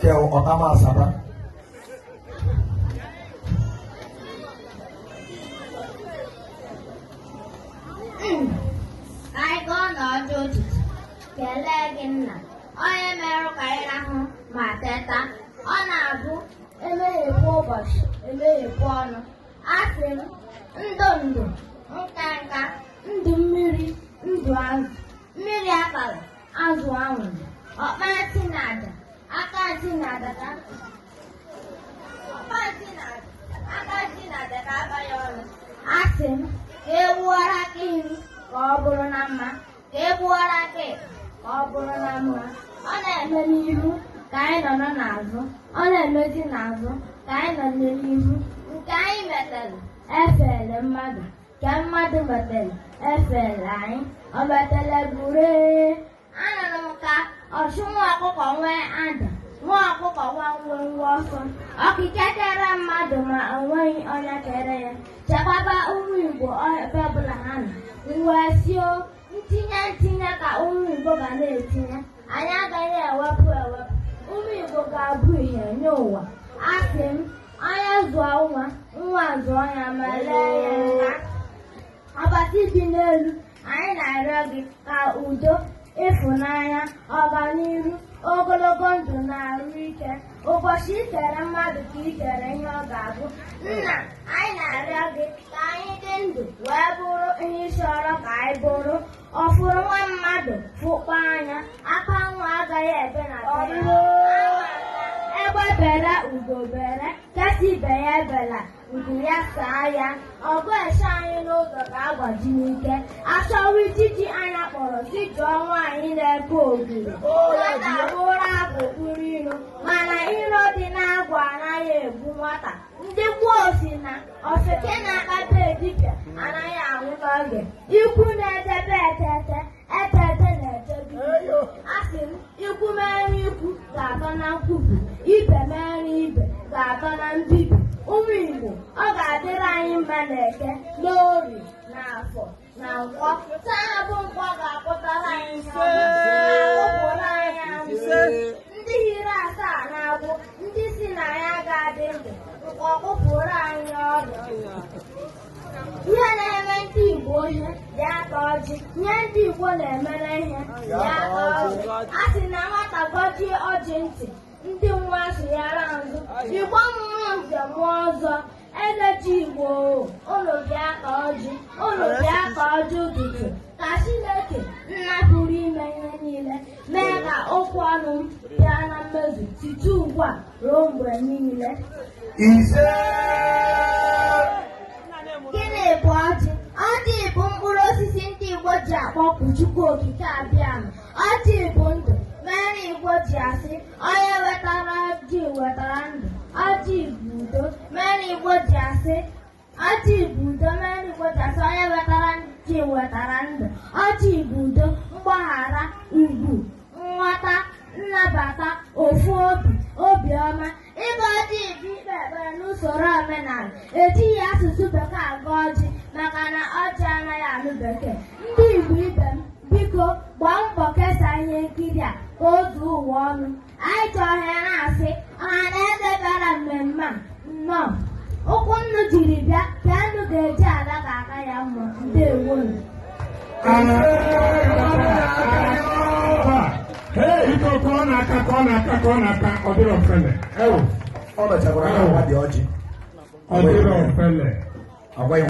kẹ ọ̀tá máa sábà. Anyị ji ọnọdụ ụtụtụ kelee gị nna onye merụ ka anyị rahụ ma teta ọ na-abụ e meghepụ ụbọchị e meghepụ ọnụ asị m ndụ ndụ nka nka ndụ mmiri ndụ azụ mmiri atala azụ anwụla ọkpa ntị na aja aka ntị na aja ka ọkpa ntị na aja aka ntị na aja ka aba ya ọnụ asị m ka e gbuwara aka nri ka ọ bụrụ na mma ka e gbuwara aka ekpe ka ọ bụrụ na mma ọ na-eme n'ihu ka anyị nọ nọ n'azụ ọ na-emezi n'azụ ka anyị nọ n'ihu nke anyị metere efele mmadụ Nke mmadụ metere efele anyị, o metere buru anụrụ m ka ọchụ nwa ọkụkọ nwe ada nwa ọkụkọ nwe nwenwe ọsọ Okike kere mmadụ ma o nweghị onye kere ya chekwaba ụmụ Igbo ebe ọbụla ha nọ wee sị ọ ntinye ntinye ka ụmụ Igbo ga na-etinye anyị agaghị ewepụ ewepụ ụmụ Igbo ga-abụ ihe nye ụwa asị m Onye zụọ nwa, nwa zụọ ya ma lee ya nka. Ọbasi dị n'elu, anyị na-arịọ gị ka udo, ịfụnanya, ọganiru, ogologo ndụ na arụ ike. Ụbọchị i kere mmadụ ka i kere ihe ọ ga-abụ. Nna, anyị na-arịọ gị ka anyị dị ndụ wee bụrụ ihe ị chọrọ ka anyị bụrụ. Ọ fụrụ nwa mmadụ fụkpọ anya, akwa nwa agaghị ebe na be ya. Egbe bere ugo bere, nke sị ibe ya ebela, nku ya saa ya. Ọgụ eche anyị n'ụzọ ka agbaji n'ike. A chọwa ijiji anya kpọrọ sị jụọ nwaanyị na-eke ogiri. Nwata bụrụ abụ kpụrụ iro, mana iro dị n'agwa anaghị egbu nwata. ndị gboo sị na ofeke na-akpọte dibịa anaghị anwụ n'oge ikwu na-echebe etete etete na-echebe asị m ikwu mere ikwu ga-atọ na nkwubi ibe mere ibe ga-atọ na mbibi ụmụ igbo ọ ga-adịrị anyị mma na eke n'orie na afọ na nkwọ taa a bụ nkwọ ga-akpụtara anyị n'ọnụ na-akpụpụrụ anyị amụ ndị hiri asaa na-agwụ ndị sị na ya ga-adị ndụ nkwọ kpụpụrụ anyị ọnụ ihe na-eme ndị Igbo ihe dị aka ọjị ihe ndị Igbo na-emere ihe dị aka ọjị a sị na nwata gọjie ọjị ntị ndị nwa sụnyere azụ Igbo mụọ nze mụọ ọzọ Enechi Igbo ụlọ bịa ka ọjị ụlọ bịa ka ọjị ụtụtụ ka Chineke nna pụrụ ime ihe niile mee ka okwu ọnụ m bịa na mmezu site ugbu a ruo mgbe niile ise gịnị bụ ọjị ọjị bụ mkpụrụ osisi ndị Igbo ji akpọku Chukwu Okike Abịama ọjị bụ ndụ mere Igbo ji asị onye wetara ọjị wetara ndụ ọjị bụ udo mere na igbo ji asị ọjị bụ udo mere na igbo ji asị onye wetara ọjị wetara ndụ ọjị bụ udo mgbaghara ugwu nghọta nnabata ofu obi obiọma ịgọ ọjị bụ ikpe ekpere n'usoro omenala ejighị asụsụ bekee agọ ọjị maka na ọjị anaghị anụ bekee ndị igbo ibe m biko gbaa mbọ kesaa ihe nkiri a ka o zuo ụwa ọnụ anyị ji ohere a na-asị ọha na eze bịara mmemme a nnọọ ụkwụ nnu jiri bịa ka nnu ga-eji ala ka aka ya mma ndewonụ Iko ka ọ na-aka ka ọ na-aka ka ọ na-aka ọ dịrọ ofele. Ewu, ọ mechakwara na agwa dị ọjị ọ dịrọ ofele. agwa ya